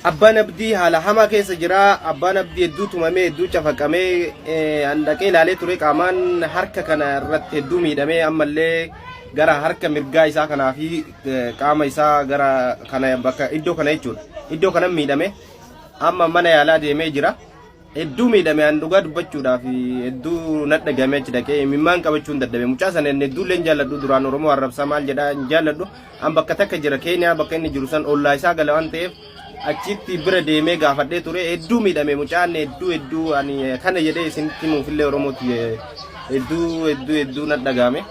Abbaan Abdii haala hamaa keessa jira. Abbaan Abdii hedduu tumamee hedduu cafaqamee eh, an dhaqee ilaalee ture qaamaan harka kana irratti hedduu miidhamee ammallee gara harka mirgaa isaa kanaa fi eh, qaama isaa gara kana bakka iddoo kana jechuudha. Iddoo kanan miidhame amma mana yaalaa deemee jira. Hedduu miidhame an dhugaa dubbachuudhaaf hedduu nadha gamee achi dhaqee imimmaan qabachuun dadhabe mucaa sana inni hedduullee hin jaalladhu duraan oromoo arrabsaa maal jedhaa hin jaalladhu an bakka takka jira keeniyaa bakka inni jiru san ollaa isaa gala waan ta'eef achitti bira deemee gaafadhee ture hedduu miidhame mucaan hedduu hedduu ani kana jedhee isinitti himuufillee oromootti hedduu hedduu hedduu nadha game.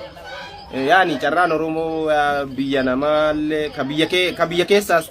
yaani carraan oromoo biyya namaallee ka biyya keessaas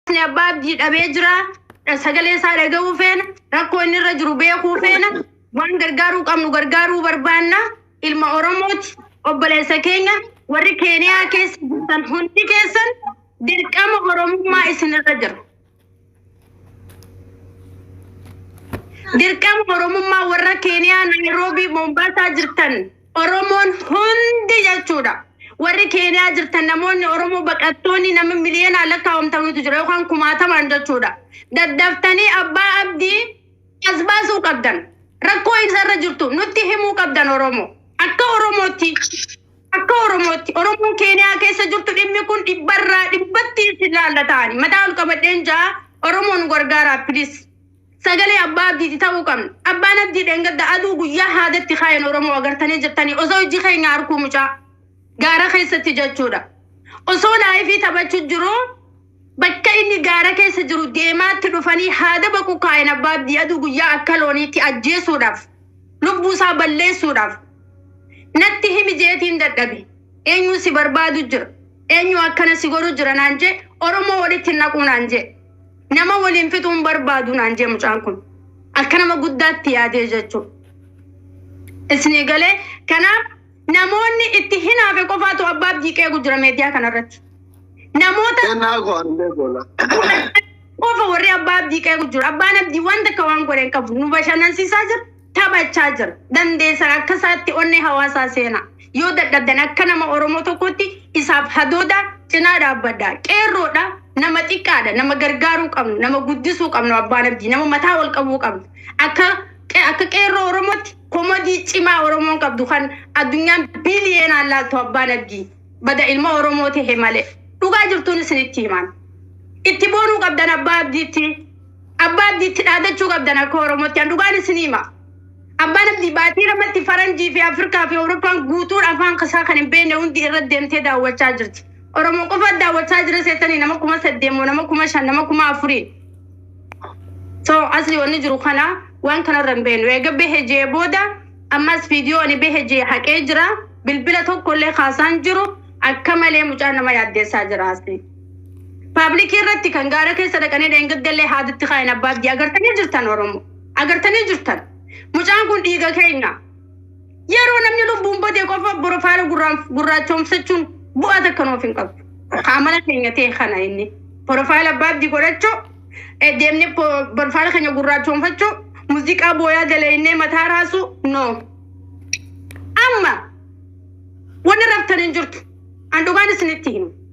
Hawaasni abbaa abdii dhabee jira. Sagalee isaa dhaga'uu feena. Rakkoo inni irra jiru beekuu feena. Waan gargaaruu qabnu gargaaruu barbaanna. Ilma Oromooti. Obboleessa keenya warri Keeniyaa keessa jirtan hundi keessan dirqama Oromummaa isinirra jira. Dirqama Oromummaa warra Keeniyaa Naayiroobii Moombaasaa jirtan Oromoon hundi jechuudha. Warri Keeniyaa jirtan namoonni Oromoo baqattoonni nama miliyoonaan lakkaa'amtanutu jira yookaan kumaatamaan jechuudha. Daddaftanii abbaa abdii as baasuu qabdan. Rakkoo isarra jirtu nutti himuu qabdan Oromoo. Akka Oromootti akka Oromootti Oromoon Keeniyaa keessa jirtu dhimmi kun dhibbarraa dhibbatti isin laallataani. Mataa ol qabadheen jaa Oromoon gargaaraa please. Sagalee abbaa abdiiti ta'uu qabna. Abbaan abdii dheengadda aduu guyyaa haadatti kaayan Oromoo agartanii jirtanii osoo ijji keenya arkuu mucaa gaara keessatti jechuudha. Osoo laayifii taphachu jiru bakka inni gaara keessa jiru deemaatti dhufanii haada baqu kaayan abbaa abdii aduu guyyaa akka looniitti ajjeesuudhaaf lubbuu isaa balleessuudhaaf natti himi jeetiin dadhabe. Eenyuu si barbaadu jira. Eenyuu akkana si godhu jira naan jee Oromoo walitti hin naquu naan jee. Nama waliin fixuu hin barbaadu naan jee mucaan kun. Akka nama guddaatti yaadee jechuu. Isinii galee kanaaf namoonni itti hinaafe qofaatu abbaa abdii qeegu jira meediyaa kanarratti. Namoota Kennaa koo ani beeku walaa. qofa warri abbaa abdii qeegu jiru. Abbaan abdii wanta akka waan godhe hin qabu. Nu bashannansiisaa jira. taphachaa jira. Dandeessan akka isaatti onnee hawaasaa seenaa. Yoo dadhabdan akka nama Oromoo tokkotti isaaf hadooda cinaa dhaabbadha. Qeerroodha, nama xiqqaadha, nama gargaaruu qabnu, nama guddisuu qabnu abbaan abdii, nama mataa wal qabuu qabnu. Akka qe- akka qeerroo Oromootti komodii cimaa Oromoon qabdu kan addunyaan biiliyeenaan laaltu abbaan abdii. Bada ilma Oromoo ta'e malee. Dhugaa jirtuun isinitti himaan. Itti boonuu qabdan abbaa abdiitti. Abbaa abdii itti dhaadachuu qabdan akka Oromootti. An dhugaan isin hima. Abbaan abdii baatii lamatti faranjii fi Afrikaa fi Awurooppaan guutuun afaan isaa kan hin beekne hundi irra deemtee daawwachaa jirti. Oromoo qofa daawwachaa jira seetanii nama kuma saddeet moo nama kuma shan nama kuma afurii. So asli wanni jiru kana waan kanarra hin beeknu. Eega bahe jee booda ammas viidiyoo ani bahe jee haqee jira. Bilbila tokkollee kaasaan jiru akka malee mucaa nama yaaddeessaa jira asli. Paablikii irratti kan gaara keessa dhaqanii dheengaddellee haadatti kaayan abbaa abdii agartanii jirtan Oromoo. Agartanii jirtan. Mucaan kun dhiiga keenya. Yeroo namni lubbuun badee qofa borofaala gurraachoomsachuun bu'aa takka nuuf hin qabdu. Kaamala keenya ta'e kana inni. Borofaala abbaa abdii godhachuu deemnee borofaala keenya gurraachoomfachuu muuziqaa booyaa dalaynee mataa raasuu no. Amma wanni raftan hin jirtu. An dhugaan isinitti himu.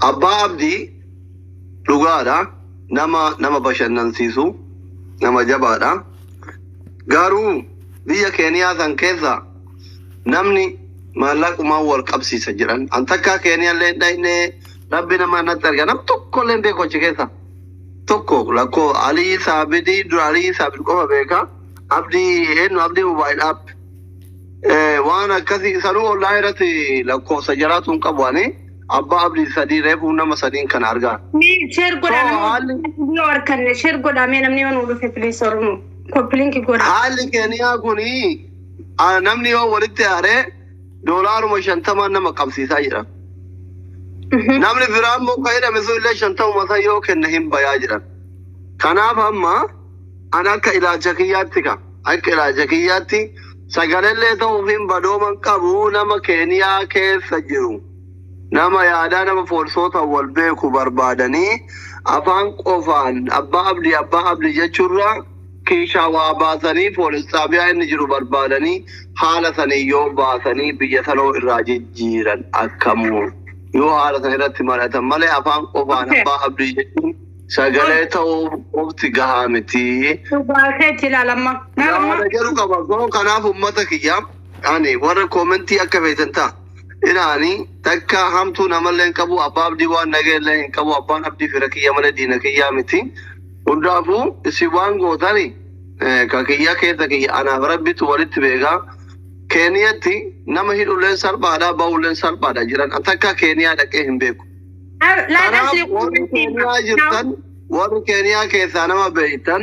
Abbaa Abdii dhugaadha. Nama nama bashannansiisu nama jabaadha. Garuu biyya Keeniyaa san keessa namni maallaqumaan wal qabsiisa jedhan. An takkaa Keeniyaallee hin dhaqne rabbi nama natti arga. Nam tokkollee hin beeku achi keessa. tokko lakko alii saabidii dura alii saabid qofa beeka abdii eenyu abdii mobaayil app waan akkasii sanuu ollaa irratti lakkoofsa jaraatu hin qabu ani abbaa abdii sadii reefuu nama sadiin kan argaa Sheer godhame Soo, haalli- yoo arkanne sheer godhame namni yoo nu dhufe piliis oromoo koppilinki godha. haalli keeniyaa kuni ah, namni yoo walitti aaree doolaaruma shantamaan nama qabsiisaa jedhan. Namni biraa immoo kan hidhame sun illee shantamuma isaa yoo kenne hin bayaa jedhan. Kanaaf amma an akka ilaalcha kiyyaatti ka akka ilaalcha kiyyaatti sagalallee ta'uuf hin badooman qabu nama keeniyaa keessa jiru. Nama yaadaa nama poolisoota wal beeku barbaadanii afaan qofaan abbaa abdi abbaa abdi jechuurraa Kiishaa waa baasanii poolis xaabiyaa inni jiru barbaadanii haala saniin yoo baasanii biyya sanoo irraa jijjiiran akkamu? Yoo haala san irratti mari'atan malee afaan qofaan abbaa abdii jechuun sagalee ta'uu qofti gahaa miti. Dhugaa keetti ilaala amma. Yaada jedhu qaba. So kanaaf ummata kiyya ani warra koomentii akka feetan ta'a. Inaani takka hamtuu namallee hin qabu abbaa abdii waan nagee illee hin qabu abbaan abdii fira kiyya malee diina kiyyaa miti. Hundaafuu isin waan gootani ka kiyya keessa kiyya anaaf Rabbitu walitti beeka. Keeniyatti nama hidhulleen salphaadha ba'ulleen salphaadha jiran an takka keeniyaa dhaqee hin beeku. Kanaaf warri keeniyaa jirtan warri keeniyaa keessaa nama beektan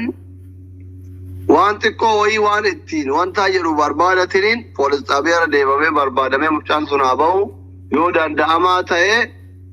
waan xiqqoo wayii waan ittiin wantaa jedhu barbaadatiniin poolis xaabiyaarra deebamee barbaadamee mucaan sun haa ba'u yoo danda'amaa ta'ee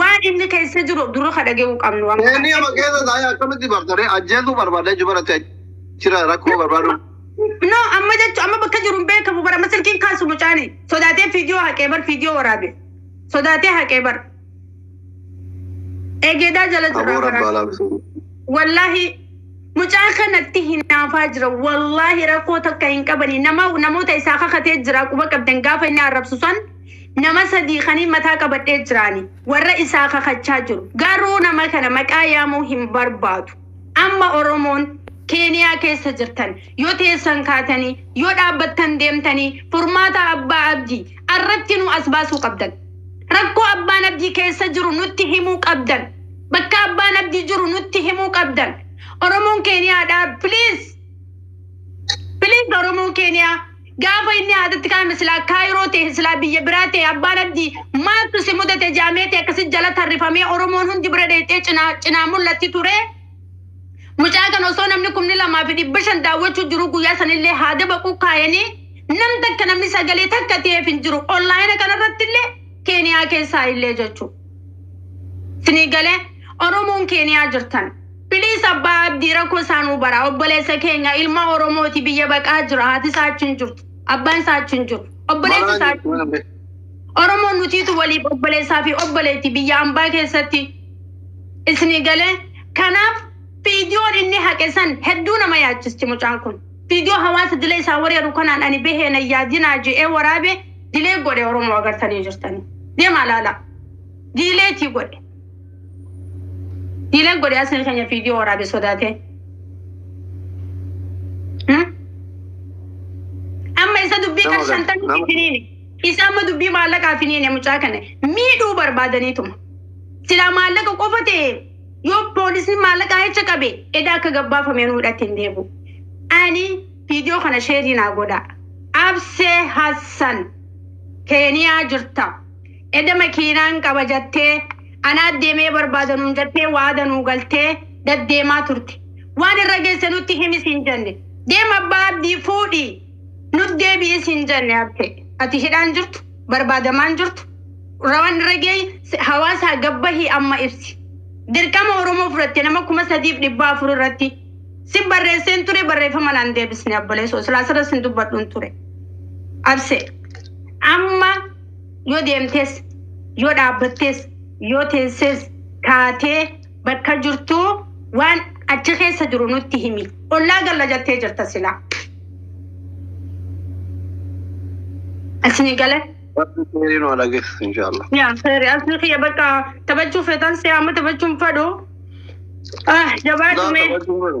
Waan inni keessa jiru dura ka dhaga'uu qabnu waan Inni amma keessa taa'ee akkamitti bartare ajjeesuu barbaada jechuun baratti achira rakkoo barbaadu. No, amma jechuun amma bakka jiru hin beekamu bara amma silkiin kaasu mucaani. Sodaatee fiidiyoo haqee bar fiidiyoo waraabe. Sodaatee haqee bar. Eegeedaa jala Aboo jirraa rabbi bara. alaa bisuu. Wallaahi mucaa kanatti hinaafaa jira. Wallaahi rakkoo takka hin qabani. Nama namoota isaa kakatee jira quba qabdan gaafa inni arrabsu san Nama sadii kaniin mataa qabadhee jiraani warra isaa kakachaa jiru. Garuu nama kana maqaa yaamuu hin barbaadu. Amma Oromoon Keeniyaa keessa jirtan yoo teessan kaatanii yoo dhaabbattan deemtanii furmaata Abbaa Abdii arratti nu as baasuu qabdan. Rakkoo Abbaan Abdii keessa jiru nutti himuu qabdan. Bakka Abbaan Abdii jiru nutti himuu qabdan. Oromoon Keeniyaadhaa please please Oromoon Keeniyaa Gaafa inni haadatti kaa'ame silaa kaayiroo ta'e silaa biyya biraa ta'e abbaan abdii maaltu si mudate jaamee ta'e akkasi jala tarrifamee oromoon hundi bira dheexee cinaa cinaa mul'atti ture. Mucaa kana osoo namni kumni lamaa fi dhibba shan daawwachuu jiru guyyaa sanillee haada baquu kaayanii nam takka namni sagalee takka ta'eef hin jiru onlaayina kanarratti illee keeniyaa keessaa illee jechuudha. Sinii galee oromoon keeniyaa jirtan. Please abbaa abdii rakkoo isaa nuu baraa obboleessa keenya ilma oromooti biyya baqaa jira haati isaa achi hin jirtu abbaan isaa achi hin jiru obboleessi Maraa isaa achi hin jirtu. jirtu. oromoon nutiitu waliif obboleessaa fi obboleetti biyya ambaa keessatti isni galee kanaaf fiidiyoon inni haqe san hedduu nama yaachisti mucaan kun fiidiyoo hawaasa dilee isaa wareeru kanaan ani bahee na yaadinaa je'ee waraabe dilee godhe oromoo agartanii jirtanii deemaa laala diileetii godhe Diileen godhe asii keenya viidiyoo waraabe sodaatee. Hmm? Amma isa dubbii kan Nama gad- shantamii nama- finiine. Isa amma dubbii maallaqaa finiine mucaa kana miidhuu barbaadaniituma. Silaa maallaqa qofa ta'e yoo poolisiin maallaqaa hecha qabe edaa akka gabbaafamee nu hidhatti hin deebi'u. Ani viidiyoo kana sheerii naa godha. Absee Hassan Keeniyaa jirta. Eda makiinaan qaba jattee anaa demee barbaada nuun jattee waada nuu galtee daddeemaa turte waan irra gesse nutti himi siin janne deem abbaa abdii fuudhi nut deebi'i siin janne abte ati hidhaan jirtu barbaadamaan jirtu rawan irra geey hawaasaa gabbahi amma ibsi dirqama oromoo fudhatte nama kuma sadiif dhibbaa afur irratti sin barreesseen ture barreeffama naan deebisne abboleesoo silaa sirra sin dubbadhun ture abse amma Yoo deemtes, yoo dhaabbattes, yoo teesses, kaatee bakka jirtuu waan achi keessa jiru nutti himi. Ollaa galla jettee jirta silaa. Asini gala. Rabbi kheyrii nu haa dhageessisu inshaallah. Yaa seeri asni kiyya bakka taphachuu feetan si'a amma taphachuun fadhu. Ah jabaatu Naa mee. taphachuu fedhu.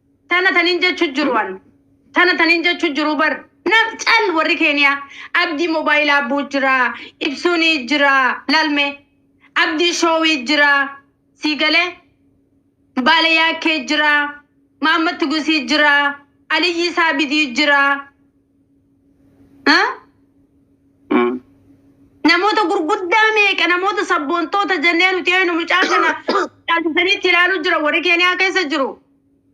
Tana tanin jechu jiru an. Tana tanin jechu jiru bar. Nam cal warri keeniyaa. Abdii mobaayila abbuu jira. Ibsuunii jira. Lalme. Abdii shoowii jira. Sii galee. Baale yaakkee jira. Maammatti gusii jira. Aliyyii saabidii jira. Ha? Mm. Namoota gurguddaa meeqa namoota sabboontoota jennee nuti eenu mucaa kana taasisaniitti ilaaluu jira warri keeniyaa keessa jiru.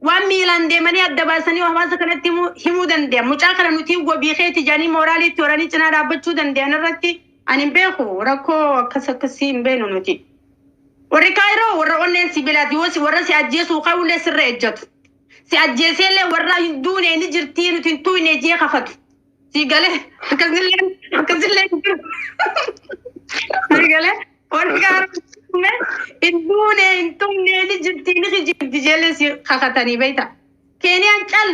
Waan miilaan deemanii adda baasanii hawaasa kanatti himuu- himuu danda'an. Mucaa kana nuti wabii keeti jedhanii mooraalii itti horanii cinaa dhaabbachuu danda'an irratti ani hin beeku rakkoo akkas akkasii hin beenu nuti. Warri kaayiroo warra onneen sibiilaati yoo si- warra si ajjeesuu kaa'ullee sirra ejjatu. Si ajjeeseellee warraa hin duune ni jirtii nuti hin tuyne jee kafatu. Sii galee akkasillee akkasillee hin jiru. Sii galee warri gaara tume hin duune hin tumne ni jirtii ni kijibdi jeellee si kakatanii beekta. Keeniyaan cal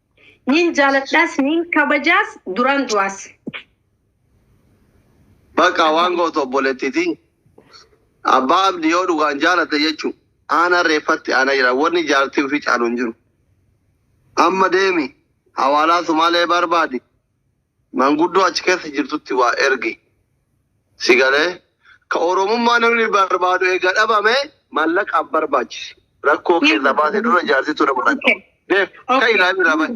Niin jaaladhaas niin kabajaas duraan du'aas. Bakka waan gootu obboleettiti. Abbaa abdi yoo dhugaan jaalatte jechuun aanaa reeffatti aanaa jira. Wanni jaartii ofii caalu hin jiru. Amma deemi hawaalaa sumaalee barbaadi. Manguddoo achi keessa jirtutti waa ergi. Si galee? Ka Oromummaa namni barbaadu eega dhabame mallaqa hin barbaachisi. Rakkoo kee irraa baate dura jaartii tun nama rakka. Deef, ka ilaami irraa bahe.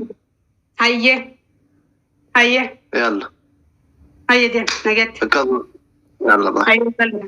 Hayye. Hayye. Yalla. Hayye deem. Nagatti. Akkasuma. Yalla bahe. Hayye bal'ina.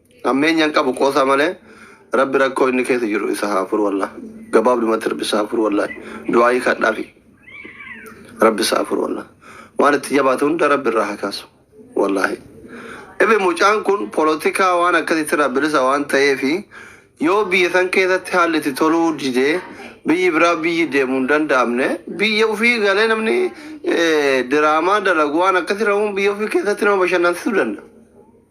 Hammeenya hin qabu qoosaa malee rabbi rakkoo inni keessa jiru isa haa furu wallah gabaabdumatti rabbi isa haa furu wallahi du'aayii kadhaafi rabbi isa haa furu wallah waan itti jabaate hunda rabbi irraa haa kaasu wallahi ifi mucaan kun polotikaa waan akkasitti irraa bilisa waan ta'eefi yoo biyya san keessatti haalli itti toluu didee biyyi biraa biyyi deemu hin danda'amne biyya ofii galee namni eh, diraamaa dalagu waan akkasii rahuun biyya ofii keessatti nama bashannansiisuu danda'a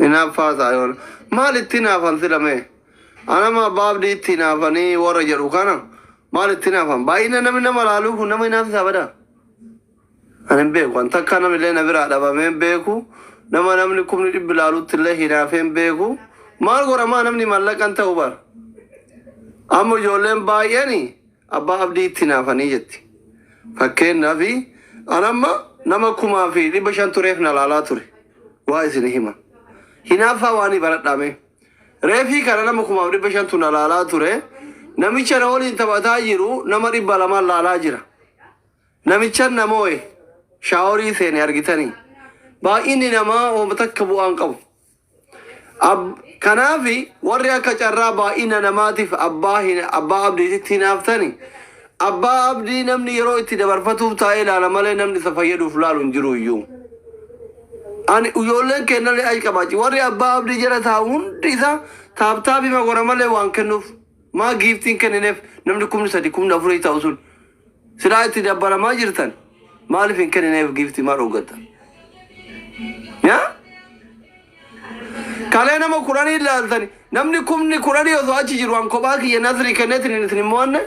Hinaaffaa isaa yoo maal itti hinaafan sila mee? Anama abbaa abdii itti hinaafanii warra jedhu kana maal itti hinaafan? Baay'ina namni nama laaluu kun nama hinaafsisaa badaa? Ani hin beeku. An takkaa namillee na biraa dhabamee hin beeku. Nama namni kumni dhibbi laaluttillee hinaafee hin beeku. Maal godha maa namni mallaqa hin ta'u bar. Amma ijoolleen baay'een abbaa abdii itti hinaafanii jetti. Fakkeenyaaf an amma nama kumaa fi dhibba shan tureef na laalaa ture. Waa isin hima. Hinaaffaa waanii baradhaa mee. Reefii kana nama kumaaf dhibba shantu na laalaa ture. Namicha na waliin taphataa jiru nama dhibba lamaan laalaa jira. Namichan na moo'e shaaworii seene argitanii baay'inni namaa homa takka bu'aa hin qabu. Ab, kanaaf warri akka carraa baay'ina namaatiif abbaa, hin, abbaa abdiititti hinaaftani abbaa abdii namni yeroo itti dabarfatuuf taa'ee laala malee namni isa fayyaduuf laalu hin jiru iyyuu. Ani ijoolleen keennallee achi qabaachi warri abbaa abdii jala taa'u hundi isaa taaptaapima gora malee waan kennuuf maa giiftiin kennineef namni kumni sadi kumni afurii ta'u sun Silaa itti dabbaramaa jirtan maaliif hin kennineef giiftii maal hoggata? Yaa? Kalee nama kudhanii ilaaltani namni kumni kudhanii osoo achi jiru an kophaa kiyya nasrii kenneetiin isin hin mo'anne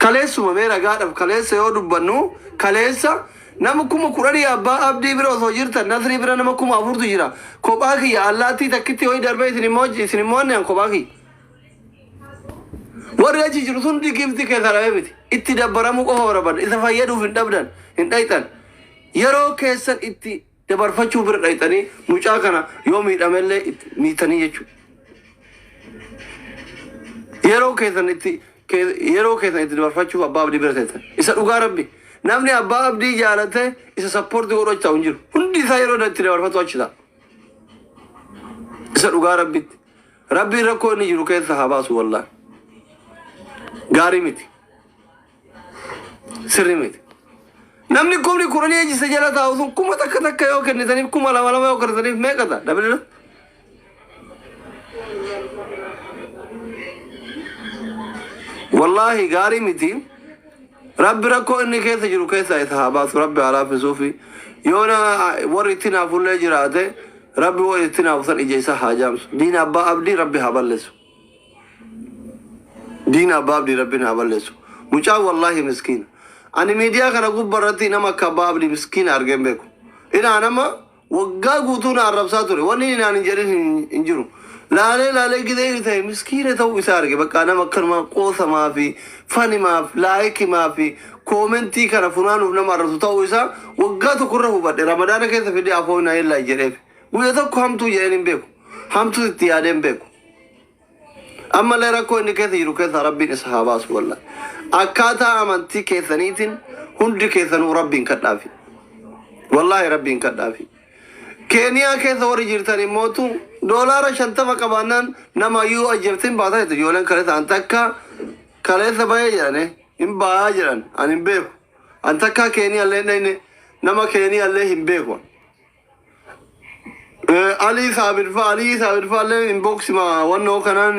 kaleessuma mee ragaadhaaf kaleessa yoo dubbannu kaleessa nama kuma kudhanii abbaa abdii bira osoo jirtan nasrii bira nama kuma afurtu jira kophaa kiyya allaattii takkitti ho'i darbee isin hin mo'anne an kophaa kiyya. Warri achi jiru sun giiftii keessaa dhabee miti. Itti dabbaramuu qofa barbaadna. Isa fayyaduuf hin dhabdan, hin dhayxan. Yeroo keessan itti dabarfachuu bira dhayxanii mucaa kana yoo miidhamellee itti miitanii jechuudha. Yeroo keessan itti ke- yeroo keessan itti dabarfachuuf abbaa abdii bira teessan. Isa dhugaa rabbi. Namni abbaa abdii jaalate isa sappoortii godhu achi taa'u hin jiru. Hundi isaa yeroo itti dabarfatu achi ta'a. Isa dhugaa rabbitti. Rabbiin rakkoo inni jiru keessa haa baasu wallahi. Gaarii miti. Sirri miti. Namni kumni kudhanii ejjisa jala taa'u sun kuma takka takka yoo kennitaniif kuma lama lama yoo kennitaniif meeqa ta'a? Dabaleera. Wallaahi gaarii miti. Rabbi rakkoo inni keessa jiru keessaa isa haa baasu. Rabbi haa laaffisuufi. Yoona warri itti naafullee jiraate Rabbi woo ittin haa kutan ija isaa haa jaamsu diina abbaa abdii rabbi haa ballesu diina abbaa abdii rabbin haa ballesu mucaan wallahi miskiina ani miidiyaa kana gubba irratti nama akka abbaa abdii miskiina argeen beeku inaa nama waggaa guutuu na arrabsaa ture wanni inni naan hin jedhin hin jiru Laalee laalee gizee inni ta'e miskiina ta'uu isaa arge bakka nama akkanumaa qoosamaa fi fanimaaf laayikimaa fi koomentii kana funaanuuf nama arrabsu ta'uu isaa waggaa tokko irra hubadhe ramadaana keessa fidee afoo hin ayeellaa jedheef guyya tokko hamtuu jedheen hin beeku hamtuu itti yaadee hin beeku ammallee rakkoo inni keessa jiru keessaa rabbiin isa haa baasu walla akkaataa amantii keessaniitiin hundi keessanuu rabbiin kadhaafi wallaahi rabbiin kadhaafi Keeniyaa keessa warri jirtan immootu doolaara 50 qabaannaan nama yoo ajjefte hin baata jette ijoolleen kaleessa an takka kaleessa bahee jedhane hin bahaa jedhan an hin beeku an takkaa keeniyaallee hin dhayne nama keeniyaallee hin beeku an. Eh, Alii Saabir faa Alii Saabir faa illee inbox ma wannoo kanaan